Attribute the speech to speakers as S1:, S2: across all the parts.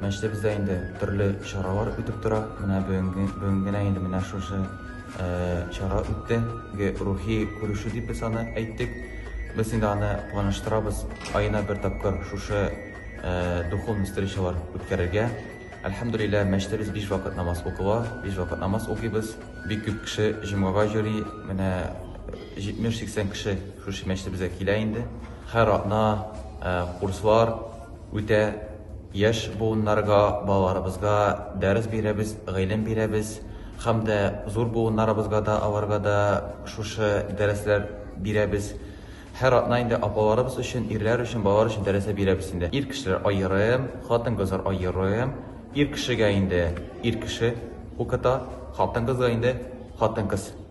S1: Мәчте бездә инде төрле чаралар үтеп тора. Менә бүгенге бүгенгенә инде менә шушы э, чара үтте. Рухи күрешү дип без аны әйттек. Без инде аны планлаштырабыз. Аена бер тапкыр шушы э, духовный встречалар үткәрергә. Әлхәмдулилла, мәчтәбез биш вакыт намаз укыла, биш вакыт намаз укыйбыз. Бик күп кеше җомгага йөри. Менә 70-80 кеше шушы мәчтәбезгә килә инде. Һәр атна э, курслар үтә. Яшь буыннарга, балаларыбызга дәрес бирәбез, гыйлем бирәбез һәм дә зур буыннарыбызга да, аларга да шушы дәресләр бирәбез. Һәр атна инде апаларыбыз өчен, ирләр өчен, балалар өчен дәресә бирәбез инде. Ир кешеләр аерым, хатын-кызлар аерым. Ир кешегә инде ир кеше укыта, хатын-кызга инде хатын-кыз.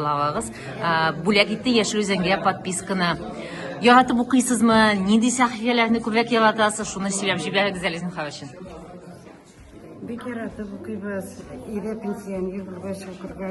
S2: Главагыз бүләк итте яшел үзәнгә подписканы. Яратып укыйсызмы? Нинди сәхифәләрне күбрәк яратасыз? Шуны сөйләп җибәрегез әле зинһар өчен.
S3: Бик яратып укыйбыз. Ире пенсионер булгач, укырга